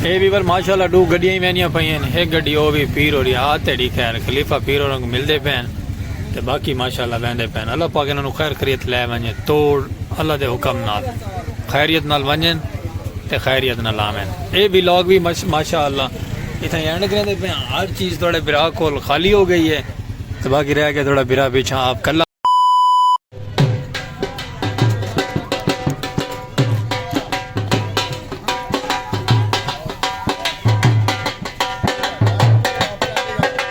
اے بھی بر ماشاءاللہ ڈو گڈیاں ہی وینیاں پئی ہیں ایک گڈی او بھی پیر ہو رہی ہاتھ تیڑی خیر خلیفہ پیر ہو رنگ ملدے پین تے باقی ماشاءاللہ ویندے پین اللہ پاک انہاں نو خیر خریت لے ونجے توڑ اللہ دے حکم نال خیریت نال ونجن تے خیریت نال آون اے ولاگ بھی ماشاءاللہ اتھاں اینڈ کریندے پئے ہاں ہر چیز تہاڈے بھرا کول خالی ہو گئی ہے تے باقی رہ گیا تہاڈا بھرا پیچھا آپ کلا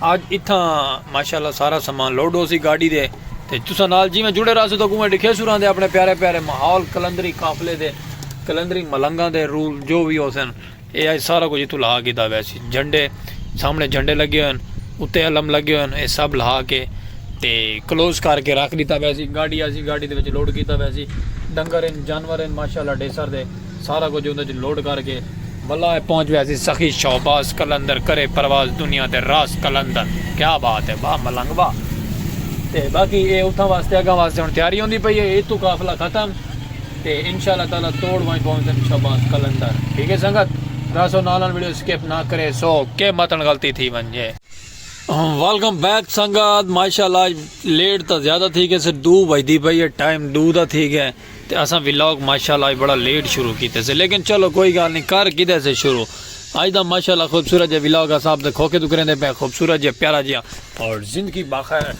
اج اتھاں ماشاءاللہ سارا سامان لوڈ ہوسی گاڈی دے تے تساں نال جیویں جڑے رہسو تاں اوویں ڈکھیسوں رہندے اپنے پیارے پیارے ماحول قلندری قافلے دے قلندری ملنگاں دے رول جو وی ہوسن اے اج سارا کچھ اتھوں لہا کیتا ویسی جھنڈے سامنے جھنڈے لگے ہوئے ہن اتے علم لگے ہوئے ہن اے سب لہا کے تے کلوز کر کے رکھ ڈیتا ویسی گاڈی آسی گاڈی دے وچ لوڈ کیتا ویسی ڈنگر ہن جانور ہن ماشاءاللہ ڈیسر دے سارا کجھ اوندے اچ لوڈ کر کے۔ بلا اے پہنچ ویسی سخی شہباز قلندر کرے پرواز دنیا دے راز قلندر کیا بات اے واہ ملنگ واہ تے باقی اے اتھاں واسطے اگاں واسطے ہن تیاری ہوندی پئی اے اتھوں قافلہ ختم تے انشاءاللہ تعالی توڑ ونج پہنچن شہباز قلندر ٹھیک اے سنگت راسو نال نال ویڈیو سکپ نہ کرے سو کے متن غلطی تھی ونجے۔ ویلکم بیک سنگت ماشاءاللہ اج لیٹ تاں زیادہ تھی گئے سے ڈو بجدی پئی اے ٹائم ڈو دا تھی گئے۔ تے اساں ولاگ ماشاءاللہ اج بڑا لیٹ شروع کیتے سے لیکن چلو کوئی گال نی کر کیتے سے شروع اج دا ماشاءاللہ خوبصورت جے ولاگ اساں اپ دے کھوکھے توں کریندے پئے خوبصورت جے پیارا جیاں اور زندگی باخیر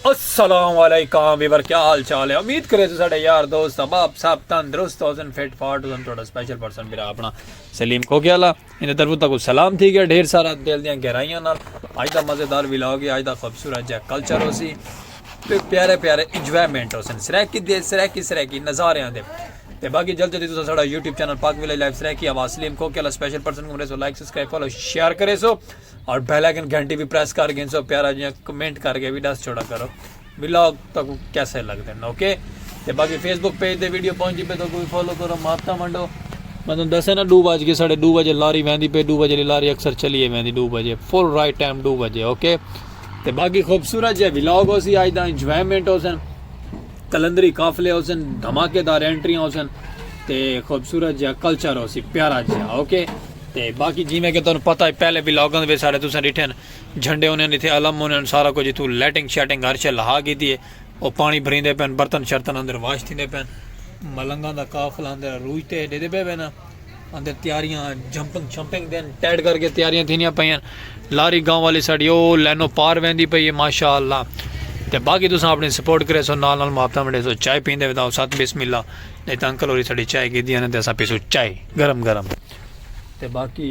السلام علیکم ویور کیا حال چال ہے امید کرے سے ساڈے یار دوست احباب سب تندرست ہوسن فٹ فاٹ ہوسن تہاڈا سپیشل پرسن بھرا اپنا سلیم کھوکھے والا انہیں طرف تک سلام تھی گیا ڈھیر سارا دل دیاں گہرائیاں نال آج دا مزیدار ولاگ ہے آج دا خوبصورت جا کلچر ہو سی تے پیارے پیارے انجوائمنٹ ہو سن سریکی دے سریکی سریکی نظارے آن دے تے باقی جلد جلدی تو ساڑا یوٹیوب چینل پاک ویلے لائف سریکی آواز سلیم کو کیلا سپیشل پرسن کو مریسو لائک سسکرائب فالو شیئر کرے سو اور بیلیکن گھنٹی بھی پریس کر گئن سو پیارا جیاں کمنٹ کر گئے بھی ڈاس چھوڑا کرو ولاگ تکوں کیسے لگدن اوکے تے باقی فیس بک پیج تے ویڈیو پہنچ جی پے تو کوئی فالو کرو مارتا منڈو میں تم دسے نا دو بج کے ساڑھے دو بجے لاری ویندی پے دو بجے لاری اکثر چلیے ویندی دو بجے فل رائٹ ٹائم دو بجے اوکے تے باقی خوبصورت جے ولاگ ہو سی آج دا انجوائمنٹ ہو سن کلندری قافلے ہو سن دھماکے دار انٹریاں ہو سن تے خوبصورت جہاں کلچر ہو سی پیارا جہاں اوکے تے باقی جی میں کہ تمہیں پتہ ہے پہلے بھی لاگن وے سارے تساں ڈٹھن جھنڈے ہونین اتھے علم ہونین سارا کجھ اتھوں لیٹنگ شیٹنگ ہر شے لہا گھیدی ہے او پانی بھریندے پین برتن شرتن اندر واش تھیندے پین ملنگاں دا قافلہ اندر عروج تے ڈیدے پے وینا اندر تیاریاں جمپنگ شمپنگ دین ٹیڈ کر کے تیاریاں تھینیاں پئین لاری گاؤں والی ساڈی او لینو پار ویندی پئی ہے ماشاءاللہ تے باقی تساں اپنی سپورٹ کرے سو نال نال محبتاں ونڈے سو چائے پیندے ودا او ساتھ بسم اللہ نہیں تے انکل ہوری ساڈی چائے گھیدی ہے نا تے اساں پیسو چائے گرم گرم تے باقی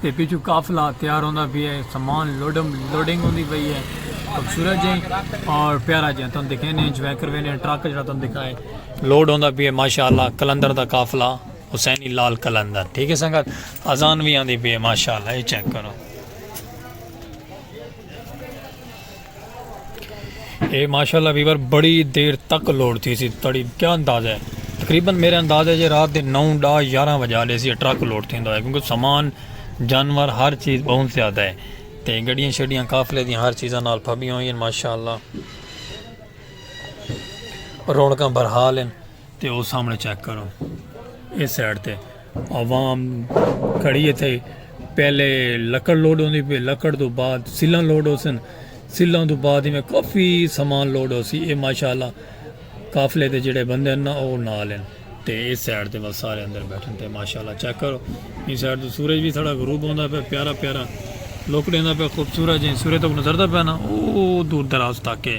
تے پچھوں قافلہ تیار ہوندا پیا ہے سامان لوڈم لوڈنگ ہوندی پئی ہے خوبصورت جے اور پیارا جے تن دکھینے انجوائے کروینے ٹرک جڑا تن دکھائے لوڈ ہوندا پیا ہے ماشاءاللہ کلندر دا قافلہ حسینی لال کلندر ٹھیک ہے سنگت اذان وی آندی پئی ہے ماشاءاللہ اے چیک کرو اے ماشاءاللہ ویور بڑی دیر تک لوڈ تھی سی تڑی کیا انداز ہے تقریبا میرے انداز ہے جی رات دے نو ڈا یارہ وجہ لے سی ٹرک لوڈ تھی ہے کیونکہ سامان جانور ہر چیز بہت زیادہ ہے تے گڑیاں شڑیاں قافلے دی ہر چیزاں نال پھبیاں ہوئی ہیں ماشاءاللہ رونکاں برحال ہیں تے او سامنے چیک کرو اے سائیڈ تے عوام کھڑی ہے تھے پہلے لکڑ لوڈ ہوندی پہ لکڑ دو بعد سلن لوڈ ہو سن سلن دو بعد ہی میں کافی سامان لوڈ ہو سی اے ماشاءاللہ قافلے دے جڑے بندے نا او نال ہیں تے اے سائیڈ تے بس سارے اندر بیٹھن تے ماشاءاللہ چیک کرو اے سائیڈ تو سورج بھی تھوڑا غروب ہوندا پہ پیارا پیارا لوکڑے دا پہ خوبصورت جیں سورج تک نظر دا پہ نا او دور دراز تک ہے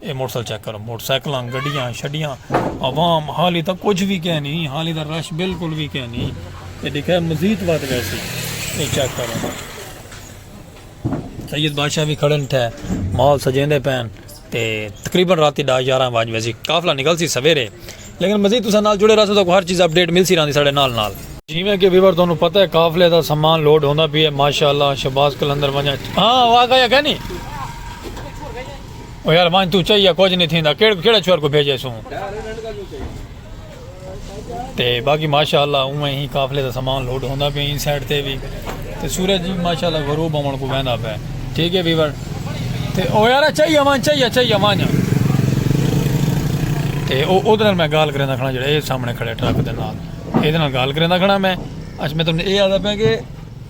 اے موٹرسائیکل چیک کرو موٹرسائیکلاں گڈیاں شڈیاں عوام حالی تک کچھ بھی کہہ نہیں حالی تک رش بالکل بھی کہہ نہیں اے دکھا مزید بات ویسی اے چیک کرو سید بادشاہ بھی کھڑن تھے مال سجیں دے پین تے تقریبا رات دا یارہ واج ویسی قافلہ نکل سی سویرے لیکن مزید تسا نال جڑے رہا سو تو ہر چیز اپ ڈیٹ مل سی رہا دی ساڑے نال نال جیویں کہ ویور تانوں پتہ ہے قافلے دا سامان لوڈ ہوندا پی ہے ماشاءاللہ شہباز کلندر ونجا ہاں واہ گیا کہ نہیں او یار ونج توں چاہیے کچھ نہیں تھیندا کیڑ کیڑا چھوہر کو بھیجے سوں تے باقی ماشاءاللہ اوویں ہی قافلے دا سامان لوڈ ہوندا پے ان سائیڈ تے وی تے سورج جی ماشاءاللہ غروب ہون کو ویندا پے ٹھیک ہے ویور تے او یار چاہیے ونج چاہیے چاہیے ونج تے او اودے نال میں گال کریندا کھڑا جڑا اے سامنے کھڑے ٹرک دے نال اے دے نال گال کریندا کھڑا میں اچ میں تم نے اے آدا پے کہ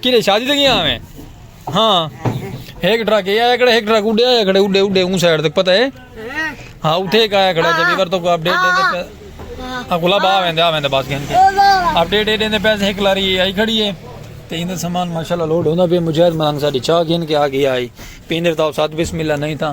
کیڑے شادی تے گیا میں ہاں ایک ٹرک یہ آیا کھڑا ایک ٹرک اڈے آیا کھڑا اڈے اڈے اون سائیڈ تک پتہ ہے ہاں اٹھے ایک آیا کھڑا جب ایور تو کو اپڈیٹ دے دے ہاں گلا با ویندے آ ویندے بس گھن کے اپڈیٹ دے دے پیسے ایک لاری آئی کھڑی ہے تے ایندے سامان ماشاءاللہ لوڈ ہوندا پہ مجاہد ملنگ ساڈی چاہ گھن کے آ گیا آئی پیندر تاو ساتھ بسم اللہ نہیں تھا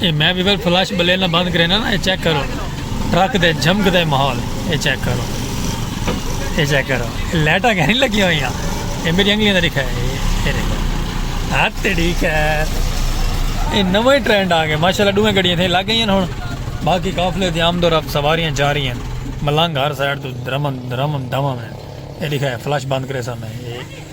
اے میں ویور فلش بلے نہ بند کرے نا اے چیک کرو ٹرک دے جھمک دے ماحول اے چیک کرو اے چیک کرو لائٹاں کہ نہیں لگی ہوئی ہیں اے میری انگلیاں دا لکھا ہے اے دیکھو ہاتھ ٹھیک ہے اے نویں ٹرینڈ آ گئے ماشاءاللہ دوے گڑیاں تھے لگ گئی ہیں ہن باقی قافلے دی آمد و رفت سواریاں جا رہی ہیں ملنگ ہر سائیڈ تو درمن درمن دمن ہے اے لکھا ہے فلش بند کرے سامنے اے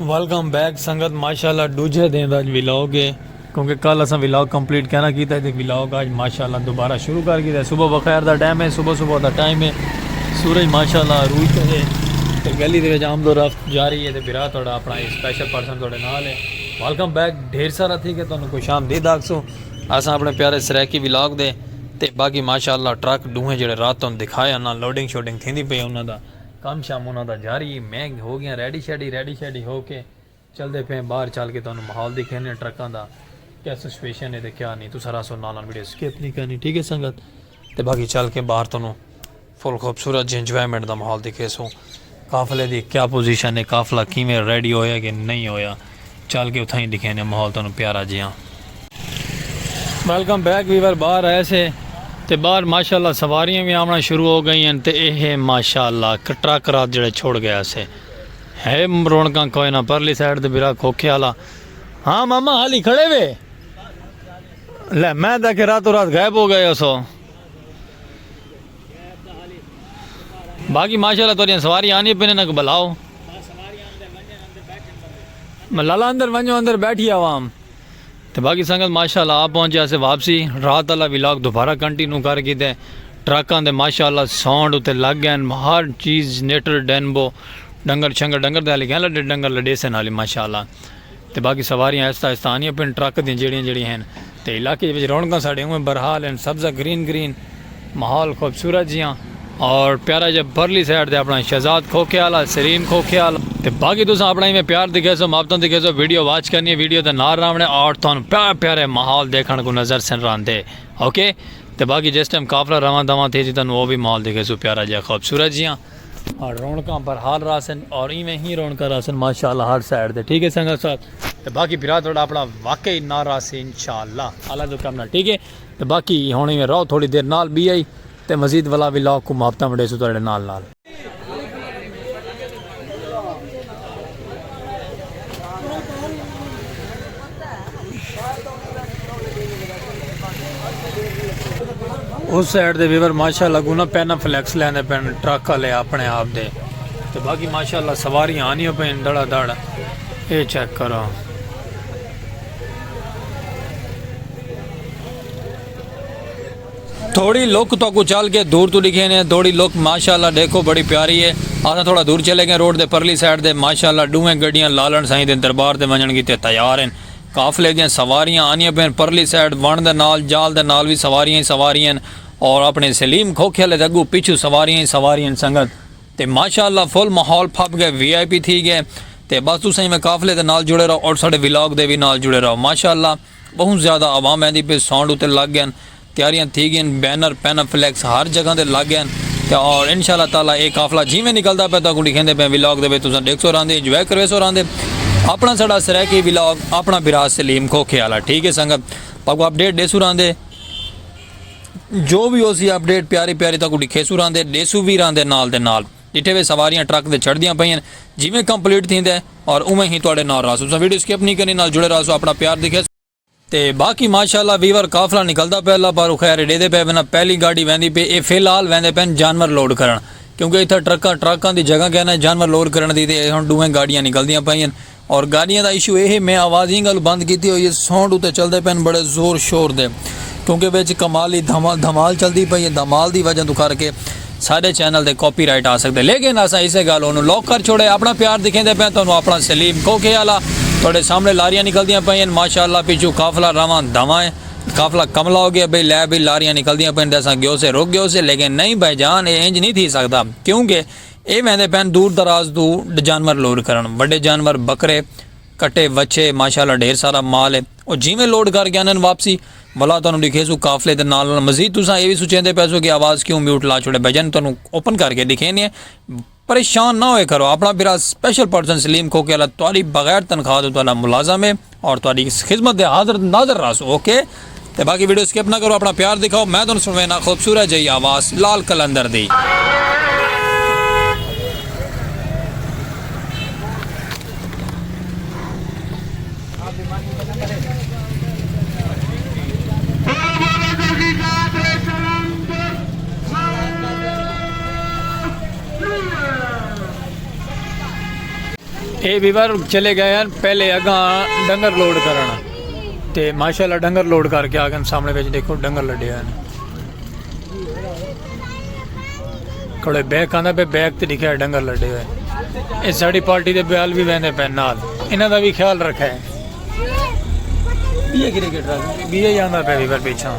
ویلکم بیک سنگت ماشاءاللہ دوجھے دن دا ویلاگ ہے کیونکہ کل اساں ویلاگ کمپلیٹ کہنا کیتا ہے تے ویلاگ آج ماشاءاللہ دوبارہ شروع کر گیا ہے صبح بخیر دا ٹائم ہے صبح صبح دا ٹائم ہے سورج ماشاءاللہ عروج تے ہے تے گلی دے وچ آمد و رفت جاری ہے تے بھرا تہاڈا اپنا ایک سپیشل پرسن تہاڈے نال ہے ویلکم بیک ڈھیر سارا تھی کہ تانوں خوش آمدید آکھسوں اساں اپنے پیارے سرائیکی ویلاگ دے تے باقی ماشاء اللہ ٹرک ڈوہیں جیڑھے رات توں دکھائے انہاں لوڈنگ شوڈنگ تھیندی پئی انہاں دا کم شم انہاں دا جاری ای میں ہو گیاں ریڈی شیڈی ریڈی شیڈی ہو کے چلدے پئے باہر چل کے تانوں ماحول دکھیندے ہیں ٹرکاں دا کیا سچویشن ہے تے کیا نیں تساں رہسو نال نال ویڈیو سکپ نیں کرنی ٹھیک ہے سنگت تے باقی چل کے باہر تانوں فل خوبصورت جی انجوائمنٹ دا ماحول دکھیسوں قافلے دی کیا پوزیشن ہے قافلہ کیویں ریڈی ہویا کہ نہیں ہویا چل کے اتھائیں دکھینے ماحول تانوں پیارا جیہاں۔ ویلکم بیک ویور باہر آئے سے تے باہر ماشاءاللہ سواریاں وی آونا شروع ہو گئی ہن تے ایہ ہے ماشاءاللہ ٹرک رات جڑے چھوڑ گیا سے ہے رونکاں کوئے نہ پرلی سائیڈ تے برا کھوکھے والا ہاں ماما حالی کھڑے وے لے میں تاکہ راتو رات غائب ہو گئے ہو سو۔ باقی ماشاءاللہ توڑیاں سواری آنی پینے نک بلاؤ ملالا اندر ونجو اندر بیٹھی عوام تو باقی سنگت ماشاءاللہ آپ پہنچے اسے واپسی رات اللہ ویلاگ دوبارہ کنٹینو کر کی دے ٹرکاں دے ماشاءاللہ ساؤنڈ اتے لگ گئے ہر چیز نیٹر ڈینبو ڈنگر شنگر ڈنگر دے حالی گئے لڈے ڈنگر لڈے سے نالی ماشاءاللہ تے باقی سواریاں آہستہ آہستہ آندیاں پن ٹرک دیاں جیڑھیاں جیڑھیاں ہن تے علاقے دے وچ رونقاں ساڈے اونویں برحال ہن سبزہ گرین گرین ماحول خوبصورت جیاں اور پیارا جیاں پرلی سائیڈ تے اپنا شہزاد کھوکھے آلا سرین کھوکھے آلا تے باقی تساں اپنا ایویں پیار دکھے سو محبتاں دکھے سو ویڈیو واچ کرنی ہے ویڈیو دے نال راونے اور تھانوں پیارے پیارے ماحول دیکھن کوں نظر سن راندے اوکے تے باقی جس ٹائم قافلہ رواں دواں تھیسی تانوں او وی ماحول دکھے سو پیارا جیاں خوبصورت جیاں۔ ہن رونکاں برحال رہسن اور ایویں ہی رونکاں رہسن ماشاءاللہ ہر سائیڈ تے ٹھیک ہے سنگت صاحب تے باقی بھرا تہاڈا اپنا واقعی نہ رہسی انشاءاللہ اللہ دے کرم نال ٹھیک ہے تے باقی ہن ایویں رہو تھوڑی دیر نال بی آئی تے مزید ولا وی لاگ کو محبتاں ونڈیسوں تہاڈے نال نال۔ اس سائیڈ دے ویور ماشاءاللہ کو نہ پینا فلیکس لیندے پین ٹرک والے اپنے آپ دے تو باقی ماشاءاللہ سواری آنی ہو پین دڑا دڑ اے چیک کرو تھوڑی لک تو کو چل کے دور تو ڈکھے نے تھوڑی لک ماشاءاللہ ڈیکھو بڑی پیاری ہے آسا تھوڑا دور چلے گئے روڈ دے پرلی سائیڈ دے ماشاءاللہ ڈوہیں گڈیاں لالن سائیں دے دربار دے ونجن گیتے تیار ہیں قافلے دیاں سواریاں آنیاں پین پرلی سائیڈ ون دے نال جال دے نال وی سواریاں ہی سواریاں ہیں اور اپنے سلیم کھوکھے والے دے اگو پچھو سواریاں ہی سواریاں ہیں سنگت تے ماشاءاللہ فل ماحول پھپ گئے وی آئی پی تھی گئے تے بس تساں میں قافلے دے نال جڑے رہو اور ساڈے ولاگ دے وی نال جڑے رہو ماشاءاللہ بہوں زیادہ عوام ایندی پئی سانڈ اتے لگ گئن تیاریاں تھی گئن بینر پینہ فلیکس ہر جگہ دے لگ گئن تے اور انشاء اللہ تعالی اے قافلہ جیویں نکلدا پئے تہاکوں ڈکھیندے پئے ولاگ دے وچ تساں ڈیکھسو راہندے انجوائے کرویسو راہندے اپنا ساڈا سرائیکی ولاگ اپنا بھرا سلیم کھوکھے والا ٹھیک ہے سنگت تہاکوں اپڈیٹ ڈیسو راہندے جو وی ہوسی اپڈیٹ پیاری پیاری تہاکوں ڈکھیسو راہندے ڈیسو وی راہندے نال دے نال۔ ڈٹھے وے سواریاں ٹرک دے چڑھدیاں پئین جیویں کمپلیٹ تھیندے اور اوویں ہی تہاڈے نال رہسوں تساں ویڈیو سکپ نی کرنی نال جڑے رہسوں اپنا پیار دکھیسوں تے باقی ماشاءاللہ ویور قافلہ نکلدا پئے اللہ پاروں خیر ڈیدے پئے ونہ پہلی گاڈی ویندی پئے اے فی الحال ویندے پئین جانور لوڈ کرن کیونکہ اتھا ٹرکاں ٹراکاں دی جگہ کینہ جانور لوڈ کرن دی تے اے ہن ڈوہیں گاڈیاں نکلدیاں پئین اور گاڈیاں دا ایشو ایہے میں آوازیں گل بند کیتی ہوئی ہے ساؤنڈ اتے چلدے پئن بڑے زور شور دے کیونکہ وچ کمالی دھمال دھمال چلدی پئی ہے دھمال دی وجہ توں کر کے ساڈے چینل تے کاپی رائٹ آ سکدے لیکن اساں اسے گل اونوں لاک کر چھوڑے اپنا پیار دکھیندے پئن تانوں اپنا سلیم کوکھے آلا تہاڈے سامنے لاریاں نکلدیاں پئی ہن ماشاءاللہ پچھوں قافلہ رواں دھواں ہے قافلہ کملا ہو گیا بھئی لے بھئی لاریاں نکلدیاں پئن تے اساں گیوسے رک گیوسے لیکن نہیں بھائی جان اے انج نہیں تھی سکدا کیونکہ اے ویندے پئن دور دراز توں ڈجانور لوڈ کرن وڈے جانور بکرے کٹے وچھے ماشاء اللہ ڈھیر سارا مال اے او جیویں لوڈ کر کے آندن واپسی ولا تانوں ڈکھیسوں قافلے دے نال نال مزید تساں اے وی سوچیندے پیسو کہ آواز کیوں میوٹ لا چھوڑے بھجن تانوں اوپن کر کے ڈکھینے پریشان نہ ہوئے کرو اپنا بھرا سپیشل پرسن سلیم کھوکھے آلا تہاڈی بغیر تنخواہ توں تہاڈا ملازم اے اور تہاڈی خدمت دے حاضر ناظر راس اوکے تے باقی ویڈیو سکپ نہ کرو اپنا پیار دکھاؤ میں تہن سنوینا خوبصورت جئی آواز لال قلندر دی اے ویور چلے گئے ہیں پہلے اگاں ڈنگر لوڈ کرنا تے ماشاءاللہ ڈنگر لوڈ کر کے آگن سامنے بیچ دیکھو ڈنگر لڈے ہیں کڑے بیک آندہ پہ بیک تے دکھے ڈنگر لڈے ہوئے اس ساڑی پارٹی دے بیال بھی بیندے پہ نال انہ دا بھی خیال رکھے بیئے گرے گرے گرے بیئے جاندہ پہ ویور پیچھا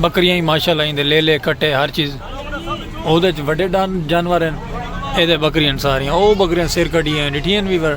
بکریاں ہی ماشاء اللہ دے لیلے کٹے ہر چیز او دے وڈے ڈان جانور ہیں اے دے بکریاں ساریاں او بکریاں سر کڈی ہیں ڈٹھیاں بھی پر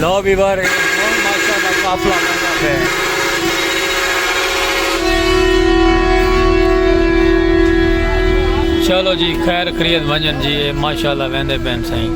لو ویور اے ہن ماشاءاللہ قافلہ لنگدا پئے۔ چلو جی خیر خریت ونجن جی اے ماشاءاللہ ویندے پین سائیں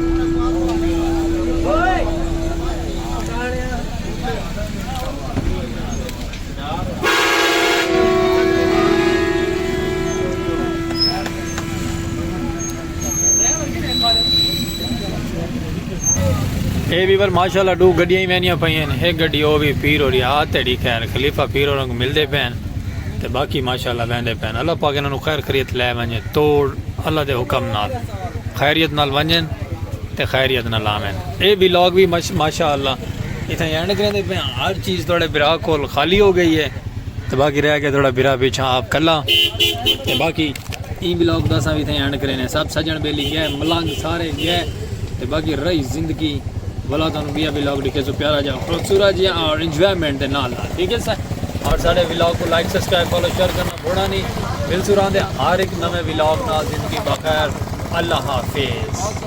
اے ویور ماشاءاللہ ڈو گڈیاں ہی وینیاں پئی ہیں ایک گڈی او وی پیر ہو رہی آ تیڑی خیر خلیفہ پیر ہوراں کو ملدے پے ہیں تے باقی ماشاءاللہ ویندے پے ہیں اللہ پاک انہاں نو خیر خریت لے ونجے توڑ اللہ دے حکم نال خیریت نال ونجن تے خیریت نال آون اے ولاگ وی ماشاءاللہ اتھاں اینڈ کریندے پے ہیں ہر چیز تہاڈے بھرا کول خالی ہو گئی ہے تے باقی رہ گیا تہاڈا بھرا پیچھے آپ کلا تے باقی ایں بلاگ دا اساں وی اتھاں اینڈ کرینے سب سجن بیلی گئے ملنگ سارے گئے تے باقی رہی زندگی بلا تانوں بیا بلاگ ڈکھے سو پیارا جا خوبصورت جی اور انجوائمنٹ دے نال نال ٹھیک ہے سر اور سارے بلاگ کو لائک سبسکرائب فالو شیئر کرنا بھوڑا نہیں مل سو راندے ہر ایک نوے بلاگ نال زندگی بخیر اللہ حافظ